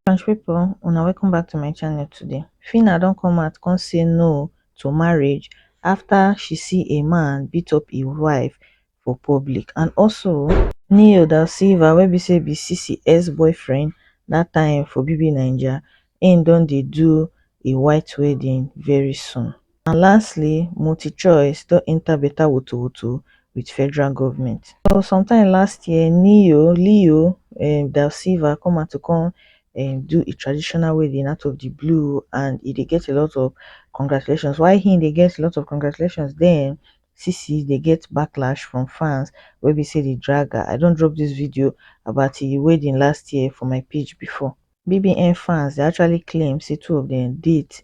French people, una welcome back to my channel today. Fina don't come out come say no to marriage after she see a man beat up his wife for public and also Neo da Silva wey be say be CCS boyfriend that time for BB Naija and don't they do a white wedding very soon. and lastly multichoice don enta beta wotowoto wit federal goment so sometime last year neo leo um da silva come out to come um do a traditional wedding out of di blue and e dey get a lot of congratulations why him dey get a lot of congratulations den sisi dey get backlash from fans wey be say dey drag her i don drop dis video about di wedding last year for my page before bbn fans dey actually claim say two of dem date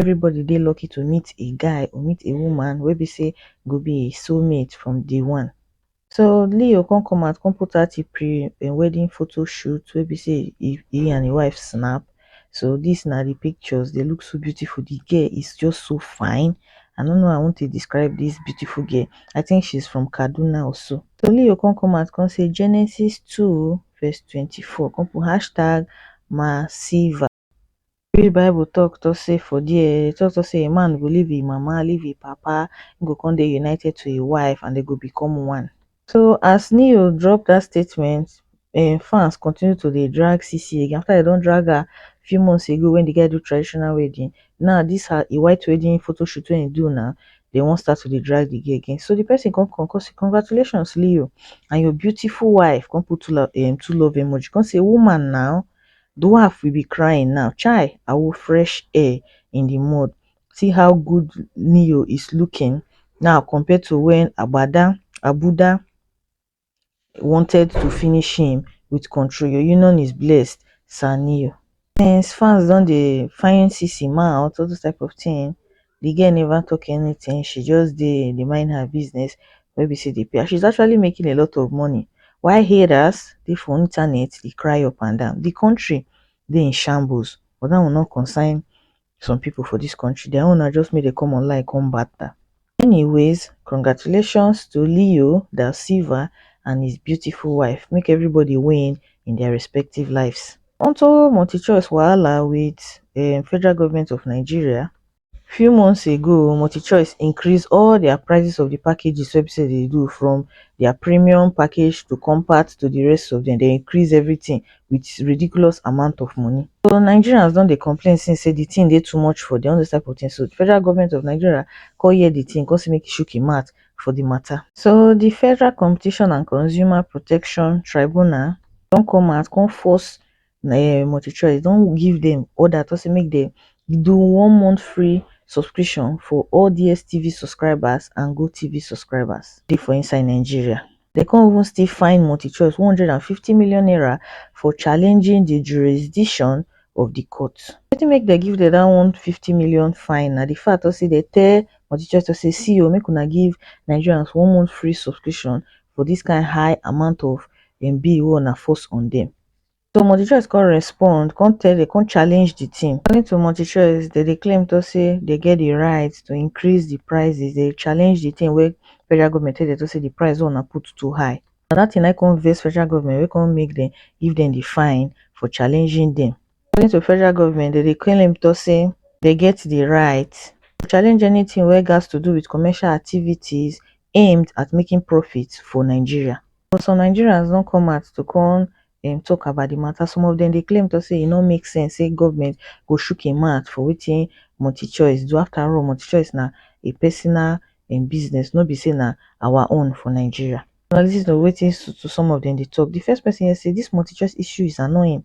everybody dey lucky to meet a guy or meet a woman wey be sey go be im soul mate from day one. So Leo come come out come put out im pre um wedding photo shoot wey be sey e e and im wife snap, so dis na de pictures dey look so beautiful de girl is just so fine I no know how I want to describe dis beautiful girl I think she's from Kaduna or so. So Leo come come out come say Genesis two verse twenty four come put hashtag Masiva. we read bible talk talk say for there talk talk say a man go leave e mama leave e papa him go come dey united to him wife and dem go become one so as ne-yo drop that statement him fans continue to dey drag sisi again after dem don drag her few months ago when the guy do traditional wedding now this her e white wedding photoshoot wey him do now dem wan start to dey drag the girl again so the person come come come say congratulations ne-yo and your beautiful wife come put two love um two love emoji come say woman now dwarf we be crying now chai awo fresh air in the mud see how good neo is looking now compared to when agbada agbuda wanted to finish him with control your union is blessed sir neo since fans don dey find sisi mouth all those type of thing the girl never talk anything she just dey dey mind her business wey be say dey pay her she's actually making a lot of money while haters dey for internet dey cry up and down the country dey in shambles but that one no concern some people for this country their own na just make dem come online come batter anyways congratulations to leo da silva and his beautiful wife make everybody win in their respective lives unto multichoice wahala wit um federal goment of nigeria few months ago multichoice increase all dia prices of di packages wey be say dem dey do from dia premium package to compact to di rest of dem dem increase everytin wit ridiculous amount of money so nigerians don dey complain since say di tin dey too much for dem all dose type of tin so federal goment of nigeria come hear di tin come say make e shook im mouth for di mata. So di Federal Competition and Consumer Protection Tribunal don come out come force um MultiChoice don give dem order talk say make dem do one month free subscription for all DSTV subscribers and GoTv subscribers dey for inside Nigeria. dem come even still fine multichoice one hundred and fifty million naira for challenging di jurisdiction of di court wetin make dem give dem dat one hundred and fifty million fine na di fact tok say dem tell multichoice tok say see o make una give nigerians one month free subscription for dis kain high amount of um bill wey una force on dem so multichoice come respond come tell dem come challenge di team according to multichoice dem dey claim to say dem get di right to increase di prices dem challenge di tin wey federal goment tell dem to say di price wey una put too high na dat tin na im come vex federal goment wey come make dem give dem di fine for challenging dem according to federal goment dem dey claim to say dem get di right to challenge anytin wey gatz to do wit commercial activities aimed at making profit for nigeria but some nigerians don come out to come um tok about di mata some of dem dey claim tok say e no make sense say goment go shook im mouth for wetin multichoice do afta all multichoice na a personal um business no be say na our own for nigeria. Una listen to wetin some of dem dey tok, di first pesin here say dis multichoice issue is annoying.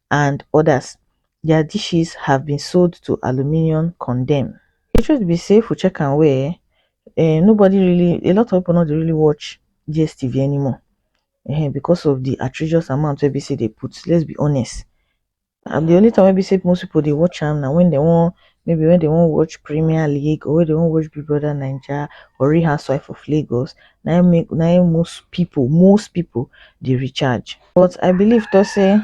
and odas dia dishes have been sold to aluminium condemn di truth be say if we check am well eh um nobody really a lot of people no dey really watch dstv anymore um because of the outrageous amount wey be say dey put let's be honest and the only time wey be say most people dey watch am na when they wan maybe when they wan watch premier league or when they wan watch big brother naija or real housewife of lagos na im make na im most people most people dey recharge but i believe tok say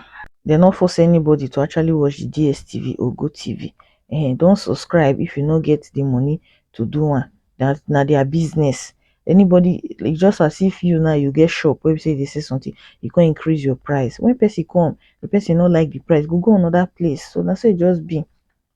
dem no force anybody to actually watch di dstv or gotv um don subscribe if you no get di money to do am dat na dia business anybody e just as if you now you get shop wey be say you dey sell something you come increase your price when person come di person no like di price e go go another place so na so e just be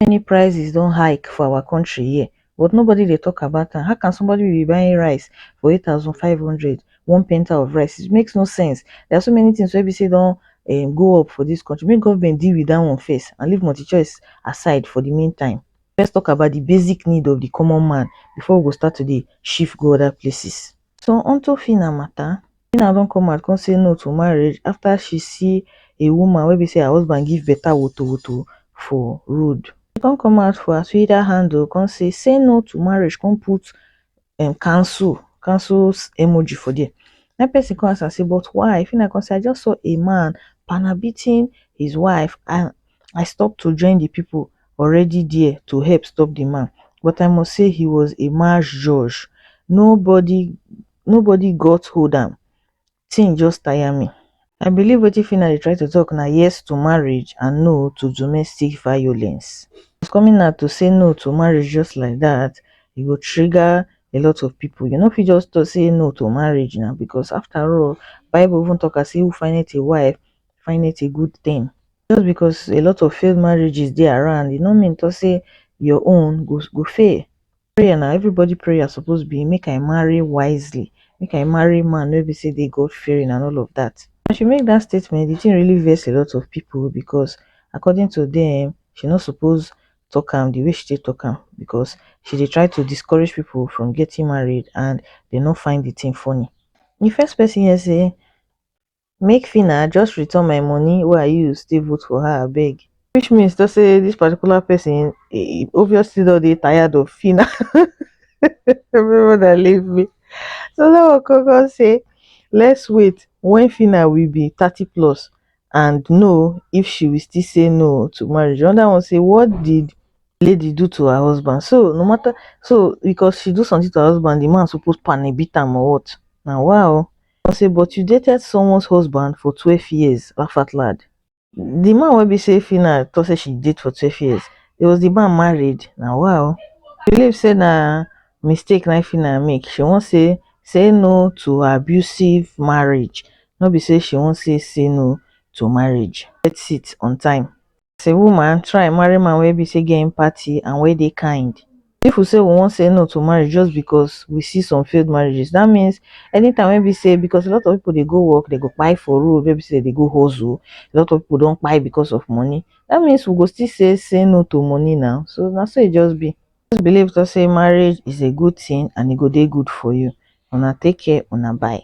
many prices don hike for our country here but nobody dey talk about am how can somebody will be buying rice for eight thousand five hundred one penta of rice it makes no sense there are so many things wey be say don um go up for this country make government deal with that one first and leave multi choice aside for the mean time let's talk about the basic need of the common man before we go start to dey shift go other places so unto phyna matter phyna don come out come say no to marriage after she see a woman wey be say her husband give better wotowoto for road she come come out for her twitter handle come say say no to marriage come put um cancel cancel emoji for there na him person come ask am say but why phyna come say i just saw a man panabitting his wife and i stop to join the people already dia to help stop di man but i must say he was a marsh joj nobody nobody got hold am thing just tire me. I believe wetin Phyna dey try to talk na yes to marriage and no to domestic violence. As coming out to say no to marriage just like that, e go trigger a lot of people. You no fit just talk say no to marriage na because after all, bible even talk am say who findeth a wife find it a good thing just because a lot of failed marriages dey around e no mean to say your own go go fail prayer na everybody prayer suppose be make i marry wisely make i marry man wey be say dey god fearing and all of that as she make that statement the thing really vex a lot of people because according to them she no suppose talk am the way she take talk am because she dey try to discourage people from getting married and they no find the thing funny the first person here say make phyna just return my money wey i use take vote for her abeg which means to say dis particular person obviously don dey tired of phyna una leave me so dat one come come say let's wait when phyna will be thirty plus and know if she will still say no to marriage another one say what did lady do to her husband so no matter so because she do something to her husband the man suppose panny beat am or what na wa o Come say but you dated someone's husband for twelve years Rafatlad. The man wey be say Phyna talk say she date for twelve years, it was the man married na wa o. Believe say na mistake na Phyna make, she wan say say no to abusive marriage no be say she wan say say no to marriage. Get seat on time. as a woman try marry man wey be say get empathy and wey dey kind if we say we wan say no to marriage just because we see some failed marriages that means anytime wey be say because a lot of people dey go work they go buy for road wey be say they go hustle a lot of people don buy because of money that means we go still say say no to money now so now so it just be just believe to say marriage is a good thing and it e go dey good for you una take care una bye